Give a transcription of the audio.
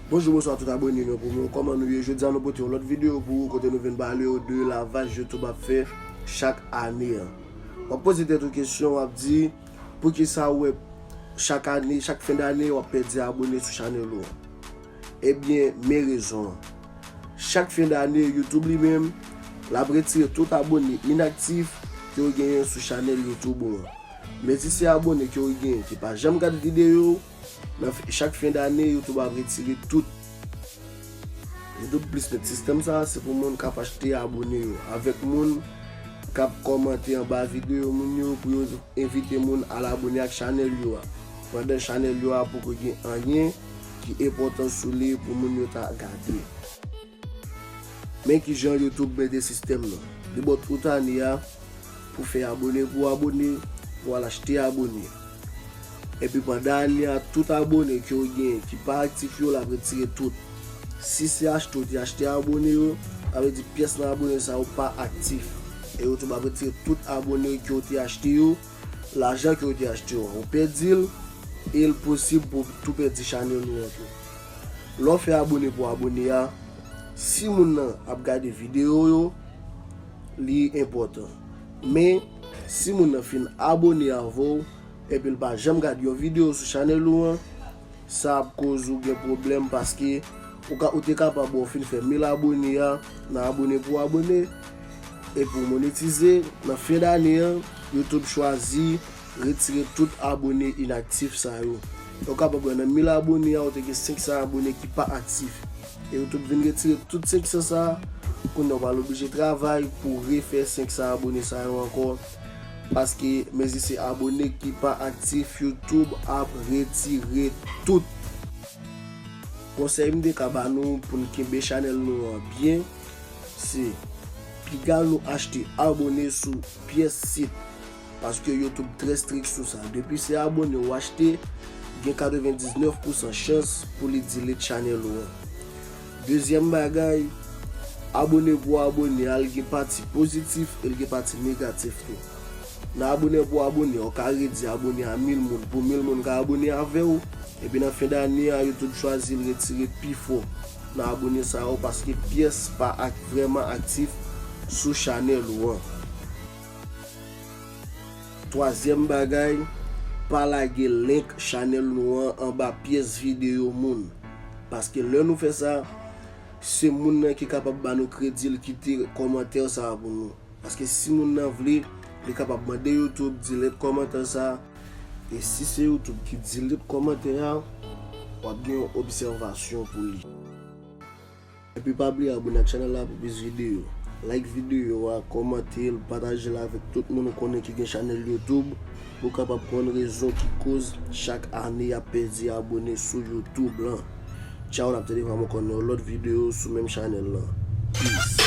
Bonjou bonswa tout abone mwen pou mwen kòman nou ye jodi an nou pote yon lòt videyo pou ou kote nou vin pale ou de lavaj YouTube ap fè chak ane an wap poze tèt ou kesyon wap di pou ki sa ou wè chak ane chak fen dane wap pèdi abone sou chanèl ou ebyen men rezon an. Chak fen dane YouTube li menm l ap retire tout abone inaktif ke ou genyen sou chanèl YouTube ou an. Men si se abone ke ou genyen ki pa janm gad videyo ou, nan chak fen dane YouTube ap retire tout. YouTube Plus met sistèm sa se pou moun k ap achte abone yo avèk moun k ap kòmante anba videyo moun yo pou yo envite moun al abone ak chanèl yo a pandan chanèl yo a poko gen anyen ki enpòtan sou li pou moun yo ta gade. Men kijan YouTube mete sistèm nan. Li baw tout ane a pou fè abone pou abone pou al achte abone. Epi pandan ane a tout abone ke ou genyen ki pa aktif yo lap retire tout. Si se achte ou te achte abone yo, sa vle di pyès nan abone sa yo pa aktif. E YouTube ap retire tout abone ke ou te achte yo. Lajan ke ou te achte yo a ou pèdi l e l posib pou ou tou pèdi chanèl ou an tou. Lè w fè abone pou abone a, si moun nan ap gade videyo yo li enpòtan. Men, si moun nan fin abone avè w epi l pa janm gad yon videyo sou chanèl ou an, Sa ap koz ou gen pwoblèm paske ou ka ou te kapab wè ou fin fè 1000 abone a nan abone pou abone e pou monetize nan fen dane an YouTube chwazi retire tout abone inaktif sa yo e ou kapab wè nan 1000 abone a ou te gen 500 abone ki pa aktif e YouTube vin retire tout 500 sa kounya ou pral oblije travay pou refè 500 abone sa yo ankò. Paske mezi se abone ki pa aktif YouTube ap retire tout. Konsèy m te ka ba nou pou n kenbe chanèl nou an byen se pigal nou achte abone sou pyès sit paske YouTube trè strik sou sa depi se abone ou achte gen 99 pousan chans pou li delete chanèl ou an. Dezyèm bagay, abone pou abone a l gen pati pozitif e l gen pati negatif tou. Nan abone pou abone a, w ka redi abone a 1000 moun pou 1000 moun ka abone avè w, epi nan fen dane a yo tout chwazi retire pi fò nan abone sa yo paske pyès pa ak vrèman aktif sou chanèl ou an. Twazyèm bagay, pa lage link chanèl nou an anba pyès videyo moun. Paske lè nou fè sa, se moun nan ki kapab ba nou kredi l kite kòmantè sa a pou nou. Paske si moun nan vle, li kapab mande YouTube delete kòmantè sa a. E si se YouTube ki delete kòmantè a, w ap gen yon obsèvasyon pou li. Epi pa bliye abone ak chanèl la pou plis videyo. Like videyo a, kòmante l, pataje l avèk tout moun ou konnen ki gen chanèl YouTube pou w kapab konn rezon ki koz chak ane y ap pèdi abone sou YouTube lan. Tchaw n ap tande pa m ankò nan yon lòt videyo sou menm chanèl lan. Peace.